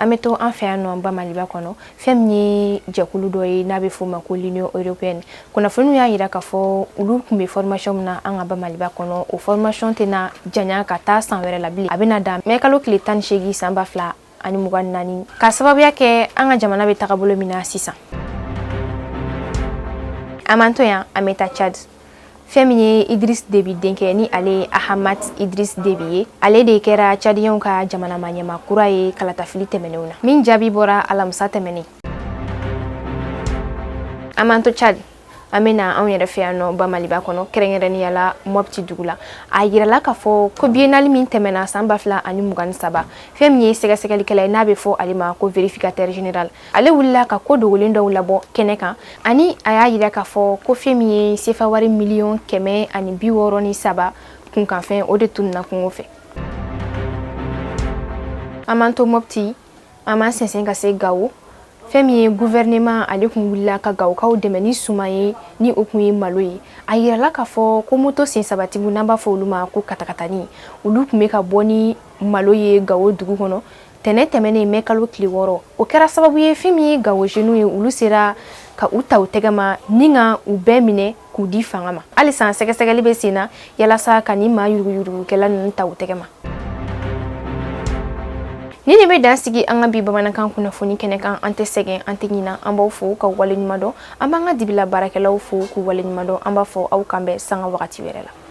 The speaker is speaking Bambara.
an bɛ to an fɛ yan nɔ bamaliba kɔnɔ fɛn min ye jɛkulu dɔ ye n'a bɛ f'o ma ko l'union européenne kunnafoniw y'a jira k'a fɔ olu tun bɛ formation min na an ka bamaliba kɔnɔ o formation tɛna janya ka taa san wɛrɛ la bilen a bɛna dan mɛ kalo tile tan ni seegin san ba fila ani mugan ni naani k'a sababuya kɛ an ka jamana bɛ tagabolo min na sisan an m'an to yan an bɛ taa cadi fɛn min ye idris debi denkɛ ni ale ye ahamat idris debi ye ale de kɛra cadiyɛnw ka jamana maa ɲɛmaa kura ye kalatafili tɛmɛnenw na min jaabi bɔra alamisa tɛmɛnen an m'an to cadi an bɛ na anw yɛrɛ fɛ yan nɔ bamaliba kɔnɔ kɛrɛnkɛrɛnnenya la mɔpti dugu la a yirala k'a fɔ ko biennale min tɛmɛna san ba fila ani mugan ni saba fɛn min ye sɛgɛsɛgɛlikɛla ye n'a bɛ fɔ ale ma ko verificateur general ale wulila ka ko dogolen dɔw labɔ kɛnɛ kan ani a y'a yira k'a fɔ ko fɛn min ye sefa wari miliyɔn kɛmɛ ani bi wɔɔrɔ ni saba kunkanfɛn o de tununa kungo fɛ an m'an to mɔpti an b'an sɛnsɛn ka se gawo fɛn min ye guvɛrɛnɛman ale tun wulila ka gawokaw dɛmɛ ni suman ye ni o tun ye malo ye a yirala k'a fɔ ko moto sen sabatigiw n'an b'a fɔ olu ma ko katakatani olu tun bɛ ka bɔ ni malo ye gawo dugu kɔnɔ Tɛnɛn tɛmɛnen mɛ kalo tile wɔɔrɔ o kɛra sababu ye fɛn min ye gawo jeunes ye olu sera ka u ta u tɛgɛma ni ka u bɛɛ minɛ k'u di fanga ma halisa sɛgɛsɛgɛli bɛ sen na yalasa ka nin maa yuruguyurugukɛla ninnu ta u tɛgɛma nin de bɛ dan sigi an ka bi bamanankan kunnafoni kɛnɛ kan an tɛ sɛgɛn an tɛ ɲina an b'aw fo k'aw waleɲumandɔn an b'an ka dibila baarakɛlaw fo k'u waleɲumandɔn an b'a fɔ aw k'an bɛn sanga wagati wɛrɛ la